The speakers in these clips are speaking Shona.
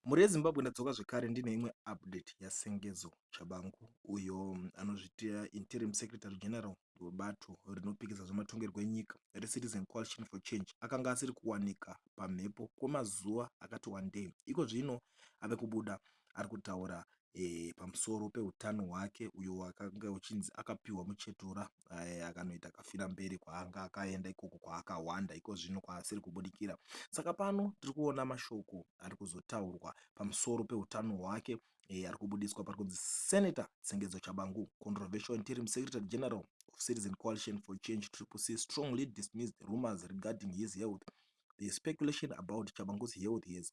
Mhuri yeZimbabwe ndadzoka zvekare ndine imwe update yaSengezo Tshabangu uyo anozviita interim secretary general webato rinopikisa zvematongerwo enyika reCitizen Coalition for Change akanga asiri kuwanika pamhepo kwemazuva akati wandei. Iko zvino ave kubuda ari kutaura e, pamusoro peutano hwake uyo wakanga uchinzi akapiwa muchetura e, akanoita kafira mberi kwaanga akaenda ikoko kwaakahwanda iko zvino kwaasiri kubudikira saka pano tiri kuona mashoko ari kuzotaurwa pamusoro peutano hwake e, ari kubudiswa pari kunzi senator tsengedzo chabangu controversial interim secretary general of citizen coalition for change triple c strongly dismissed rumors regarding his health the speculation about chabangu's health has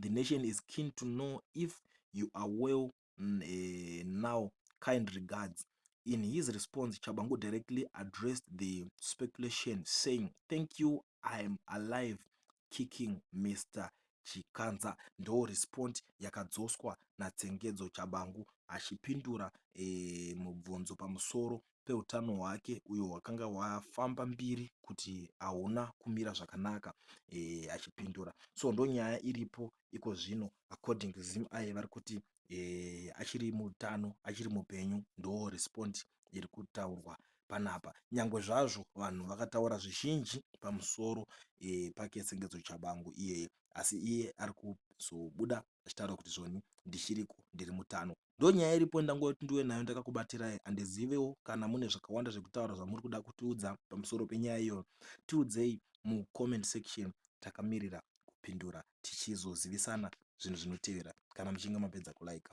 the nation is keen to know if you are well uh, now kind regards in his response chabangu directly addressed the speculation saying thank you i am alive kicking mr chikanza ndo respond yakadzoswa natsengedzo chabangu achipindura e, mubvunzo pamusoro peutano hwake uyo hwakanga hwafamba mbiri kuti hauna kumira zvakanaka e, achipindura so ndonyaya iripo iko zvino according to zim aye vari kuti e, achiri mutano achiri mupenyu ndo respond iri kutaurwa panapa nyangwe zvazvo vanhu vakataura zvizhinji pamusoro e, pake sengedzo chabangu iyeye asi iye ari kuzobuda zvichitaura kuti zvoni ndichiriko ndiri mutano ndonyaya iripo ndangoti ndiwe nayo ndakakubatirai handizivewo kana mune zvakawanda zvekutaura zvamuri kuda kutiudza pamusoro penyaya iyoyo tiudzei mucomment section takamirira kupindura tichizozivisana zvinhu zvinotevera kana muchinge mapedza kulaika